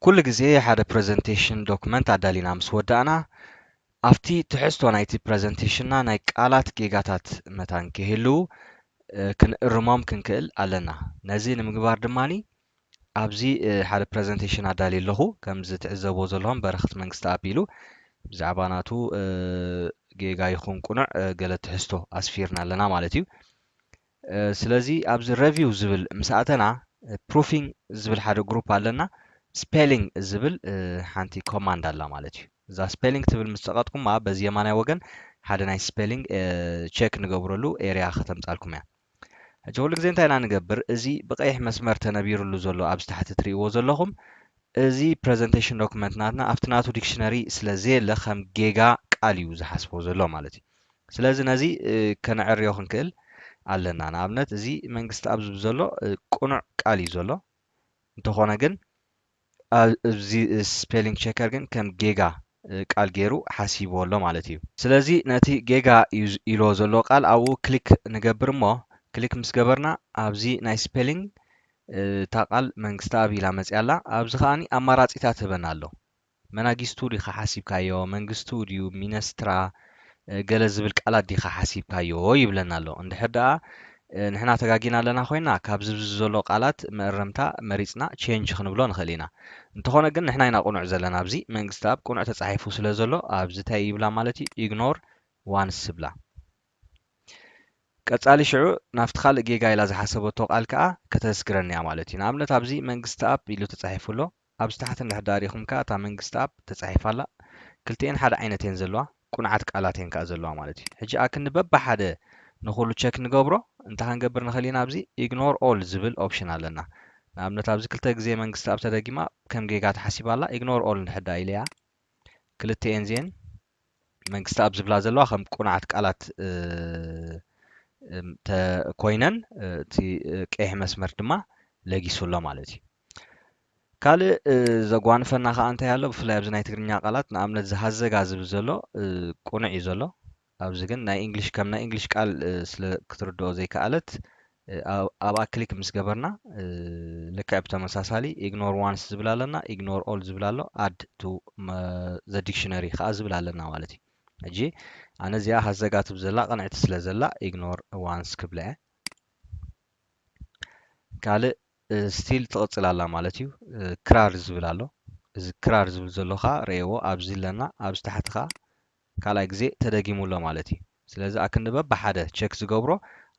ኩሉ ግዜ ሓደ ፕረዘንቴሽን ዶክመንት ኣዳሊና ምስ ወዳእና ኣብቲ ትሕዝቶ ናይቲ ፕረዘንቴሽንና ናይ ቃላት ጌጋታት መታን ከይህልው ክንእርሞም ክንክእል ኣለና። ነዚ ንምግባር ድማ ኣብዚ ሓደ ፕረዘንተሽን ኣዳልየ ኣለኹ። ከምዚ ትዕዘብዎ ዘለኹም በረኸት መንግስተኣብ ኢሉ ብዛዕባ ናቱ ጌጋ ይኹን ቁኑዕ ገለ ትሕዝቶ ኣስፊርና ኣለና ማለት እዩ። ስለዚ ኣብዚ ረቪው ዝብል ምስ ኣተና ፕሩፊንግ ዝብል ሓደ ግሩፕ ኣለና ስፔሊንግ ዝብል ሓንቲ ኮማንድ ኣላ ማለት እዩ። እዛ ስፔሊንግ ትብል ምስ ጸቐጥኩማ በዚ የማናይ ወገን ሓደ ናይ ስፔሊንግ ቸክ ንገብረሉ ኤርያ ከተምጻልኩም እያ። ሕጂ ኩሉ ግዜ እንታይ ኢና ንገብር እዚ ብቀይሕ መስመር ተነቢርሉ ዘሎ ኣብዚ ታሕቲ ትሪእዎ ዘለኹም እዚ ፕረዘንተሽን ዶክመንት ናትና ኣብቲ ናቱ ዲክሽነሪ ስለ ዘየለ ከም ጌጋ ቃል እዩ ዝሓስቦ ዘሎ ማለት እዩ ስለዚ ነዚ ከነዕርዮ ክንክእል ኣለና ንኣብነት እዚ መንግስቲ ኣብ ዝብ ዘሎ ቅኑዕ ቃል እዩ ዘሎ እንተኾነ ግን ኣብዚ ስፔሊንግ ቸከር ግን ከም ጌጋ ቃል ገይሩ ሓሲብዎ ኣሎ ማለት እዩ ስለዚ ነቲ ጌጋ እዩ ኢልዎ ዘሎ ቃል ኣብኡ ክሊክ ንገብር እሞ ክሊክ ምስ ገበርና ኣብዚ ናይ ስፔሊንግ እታ ቃል መንግስተኣብ ኢላ መፅያ ኣላ ኣብዚ ከዓኒ ኣማራፂታት ህበና ኣሎ መናጊስቱ ዲኻ ሓሲብካዮ መንግስቱ ድዩ ሚነስትራ ገለ ዝብል ቃላት ዲኻ ሓሲብካዮ ይብለና ኣሎ። እንድሕር ደኣ ንሕና ተጋጊና ኣለና ኮይና ካብዚ ኣብዚ ዘሎ ቃላት መእረምታ መሪጽና ቼንጅ ክንብሎ ንኽእል ኢና። እንተኾነ ግን ንሕና ኢና ቅኑዕ ዘለና ኣብዚ መንግስትኣብ ቅኑዕ ተጻሒፉ ስለ ዘሎ ኣብዚ ታይ ይብላ ማለት እዩ ኢግኖር ዋንስ ዝብላ። ቀጻሊ ሽዑ ናብቲ ካልእ ጌጋ ኢላ ዝሓሰበቶ ቃል ከኣ ከተስግረኒ እያ ማለት እዩ። ንኣብነት ኣብዚ መንግስትኣብ ኢሉ ተጻሒፉ ኣሎ ኣብ ዝተሓተ ምሕዳር ኢኹም ከኣ እታ መንግስትኣብ ተጻሒፋ ኣላ ክልቲኤን ሓደ ዓይነት እየን ዘለዋ ቁንዓት ቃላት እየን ከኣ ዘለዋ ማለት እዩ ሕጂ ኣክንዲ በብሓደ ንኹሉ ቸክ ንገብሮ እንተ ከንገብር ንኽእል ኢና ኣብዚ ኢግኖር ኦል ዝብል ኦፕሽን ኣለና ንኣብነት ኣብዚ ክልተ ግዜ መንግስትኣብ ተደጊማ ከም ጌጋ ተሓሲባ ኣላ ኢግኖር ኦል እንድሕዳ ኢለያ ክልቲኤን እዚኤን መንግስትኣብ ዝብላ ዘለዋ ከም ቁንዓት ቃላት እንተ ኮይነን እቲ ቀይሕ መስመር ድማ ለጊሱ ኣሎ ማለት እዩ ካልእ ዘጓንፈና ከኣ እንታይ ኣሎ ብፍላይ ኣብዚ ናይ ትግርኛ ቃላት ንኣብነት እዚ ሃዘጋ ዝብል ዘሎ ቅኑዕ እዩ ዘሎ ኣብዚ ግን ናይ እንግሊሽ ከም ናይ እንግሊሽ ቃል ስለ ክትርድኦ ዘይከኣለት ኣብኣ ክሊክ ምስ ገበርና ልክዕ ብተመሳሳሊ ኢግኖር ዋንስ ዝብል ኣለና ኢግኖር ኦል ዝብል ኣሎ ኣድ ቱ ዘ ዲክሽነሪ ከዓ ዝብል ኣለና ማለት እዩ ሕጂ ኣነ እዚኣ ሃዘጋ ትብል ዘላ ቅንዕቲ ስለ ዘላ ኢግኖር ዋንስ ክብላ እየ ካልእ ስቲል ትቅጽል ኣላ ማለት እዩ ክራር ዝብል ኣሎ እዚ ክራር ዝብል ዘሎ ከኣ ረኤዎ ኣብዚ ኣለና ኣብዚ ታሕቲ ከኣ ካልኣይ ግዜ ተደጊሙ ኣሎ ማለት እዩ ስለዚ ኣክንዲ በብሓደ ቸክ ዝገብሮ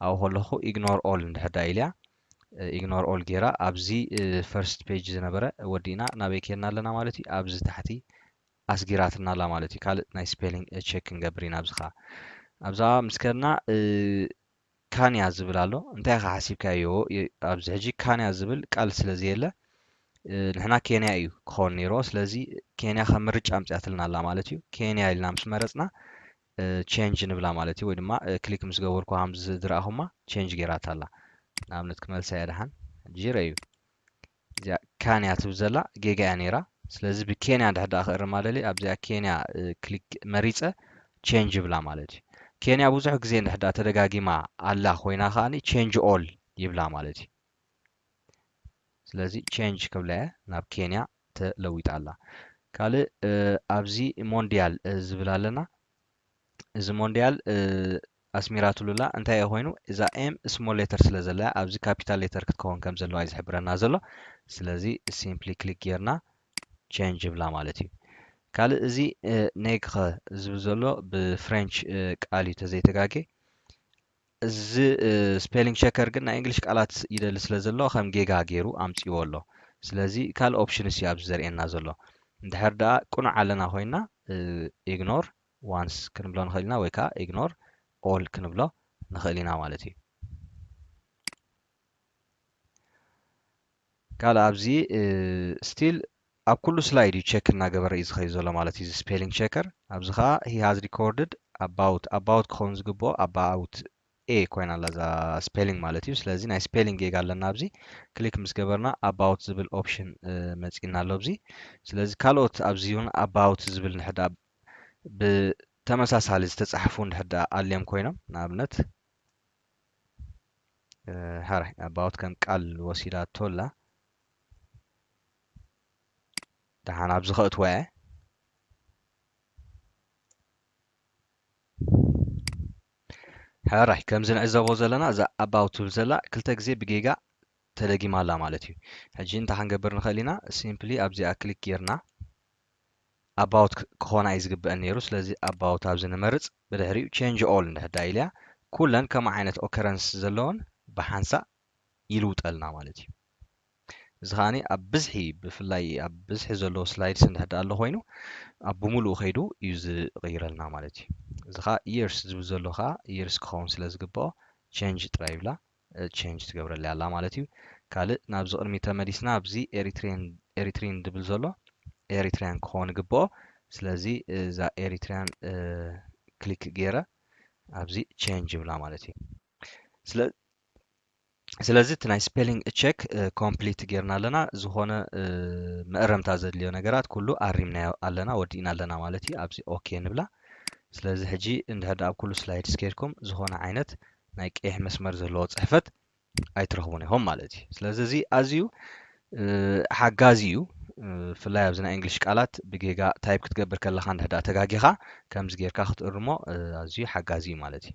ኣብኡ ከለኹ ኢግኖር ኦል እንድሕር ደኣ ኢልያ ኢግኖር ኦል ጌራ ኣብዚ ፈርስት ፔጅ ዝነበረ ወዲእና ናበይ ኬድና ኣለና ማለት እዩ ኣብዚ ታሕቲ ኣስጊራትና ኣላ ማለት እዩ ካልእ ናይ ስፔሊንግ ቸክ ክንገብር ኢና ኣብዚ ከኣ ኣብዛ ምስ ከድና ካንያ ዝብል ኣሎ እንታይ ኢኻ ሓሲብካዮ ኣብዚ ሕጂ ካንያ ዝብል ቃል ስለ ዘየለ ንሕና ኬንያ እዩ ክኸውን ነይርዎ ስለዚ ኬንያ ከም ምርጫ ኣምጽያትልና ኣላ ማለት እዩ ኬንያ ኢልና ምስ መረጽና ቼንጅ ንብላ ማለት እዩ ወይ ድማ ክሊክ ምስ ገበርኩ ከምዚ ዝረኣኹማ ቼንጅ ገይራታ ኣላ ንኣብነት ክመልሳ እያ ደሓን ሕጂ ረእዩ እዚኣ ካንያ ትብል ዘላ ጌጋ እያ ነይራ ስለዚ ብኬንያ እንድሕር ደኣ ክእርማ ደልየ ኣብዚኣ ኬንያ ክሊክ መሪጸ ቼንጅ ይብላ ማለት እዩ ኬንያ ብዙሕ ግዜ እንድሕር ደኣ ተደጋጊማ ኣላ ኮይና ከኣ ቼንጅ ኦል ይብላ ማለት እዩ ስለዚ ቼንጅ ክብላ እየ ናብ ኬንያ ተለዊጣ ኣላ ካልእ ኣብዚ ሞንዲያል ዝብል ኣለና እዚ ሞንድያል ኣስሚራትሉላ እንታይ እየ ኮይኑ እዛ ኤም ስሞል ሌተር ስለ ዘለያ ኣብዚ ካፒታል ሌተር ክትከውን ከም ዘለዋ እዩ ዝሕብረና ዘሎ ስለዚ ሲምፕሊ ክሊክ ጌርና ቼንጅ ይብላ ማለት እዩ ካልእ እዚ ኔግኸ ዝብል ዘሎ ብፍሬንች ቃል እዩ ተዘይተጋጌ እዚ ስፔሊንግ ቸከር ግን ናይ እንግሊሽ ቃላት ይደሊ ስለ ዘሎ ከም ጌጋ ገይሩ ኣምጺዎ ኣሎ ስለዚ ካልእ ኦፕሽንስ እዩ ኣብዚ ዘርእየና ዘሎ እንድሕር ደኣ ቅኑዕ ኣለና ኮይና ኢግኖር ዋንስ ክንብሎ ንኽእል ኢና ወይ ከዓ ኢግኖር ኦል ክንብሎ ንኽእል ኢና ማለት እዩ ቃል ኣብዚ ስቲል ኣብ ኩሉ ስላይድ እዩ ቸክ እናገበረ እዩ ዝኸይ ዘሎ ማለት እዩ እዚ ስፔሊንግ ቸከር ኣብዚ ከዓ ሂ ሃዝ ሪኮርድድ ኣባውት ኣባውት ክኸውን ዝግብኦ ኣባውት ኤ ኮይና ኣላ እዛ ስፔሊንግ ማለት እዩ ስለዚ ናይ ስፔሊንግ ጌጋ ኣለና ኣብዚ ክሊክ ምስ ገበርና ኣባውት ዝብል ኦፕሽን መፂና ኣሎ ኣብዚ ስለዚ ካልኦት ኣብዚ እውን ኣባውት ዝብል ንሕዳ ብተመሳሳሊ ዝተፃሕፉ ንሕዳ ኣልዮም ኮይኖም ንኣብነት ሐራይ ኣባውት ከም ቃል ወሲዳቶ ኣላ ደሓን ኣብዚ ከእትዋ እየ ሕራይ ከምዚ ንዕዘቦ ዘለና እዛ ኣባው ትብል ዘላ ክልተ ግዜ ብጌጋ ተደጊማ ኣላ ማለት እዩ ሕጂ እንታይ ክንገብር ንኽእል ኢና ሲምፕሊ ኣብዚኣ ክሊክ ጌርና ኣባውት ክኾና እዩ ዝግበእን ነይሩ ስለዚ ኣባውት ኣብዚ ንመርጽ ብድሕሪኡ ቼንጅ ኦል እንድሕር ደኣ ኢልያ ኩለን ከም ዓይነት ኦከረንስ ዘለወን ብሓንሳእ ይልውጠልና ማለት እዩ እዚ ከዓኒ ኣብ ብዝሒ ብፍላይ ኣብ ብዝሒ ዘለዎ ስላይድስ እንድሕር ደኣ ኣሎ ኮይኑ ኣብ ብምሉኡ ከይዱ እዩ ዝቕይረልና ማለት እዩ እዚ ከዓ years ዝብል ዘሎ ከዓ years ክኸውን ስለ ዝግበኦ ቼንጅ ጥራይ ይብላ ቸንጅ ትገብረለይ ኣላ ማለት እዩ ካልእ ናብዚ ቅድሚ ተመሊስና ኣብዚ ኤሪትሪን ኤሪትሪን ድብል ዘሎ ኤሪትሪያን ክኾን ይግብኦ ስለዚ እዛ ኤሪትሪያን ክሊክ ገይረ ኣብዚ ቸንጅ ይብላ ማለት እዩ ስለ ስለዚ እቲ ናይ ስፔሊንግ ቸክ ኮምፕሊት ጌርና ኣለና ዝኾነ መእረምታ ዘድልዮ ነገራት ኩሉ ኣሪምናዮ ኣለና ወዲእና ኣለና ማለት እዩ ኣብዚ ኦኬ ንብላ ስለዚ ሕጂ እንድሕር ኣብ ኩሉ ስላይድስ ከድኩም ዝኾነ ዓይነት ናይ ቀይሕ መስመር ዘለዎ ጽሕፈት ኣይትረኽቡን ኢኹም ማለት እዩ። ስለዚ እዚ ኣዝዩ ሓጋዚ እዩ። ብፍላይ ኣብዚ ናይ እንግሊሽ ቃላት ብጌጋ ታይፕ ክትገብር ከለኻ እንድሕዳ ተጋጊኻ ከምዚ ጌርካ ክትእርሞ ኣዝዩ ሓጋዚ እዩ ማለት እዩ።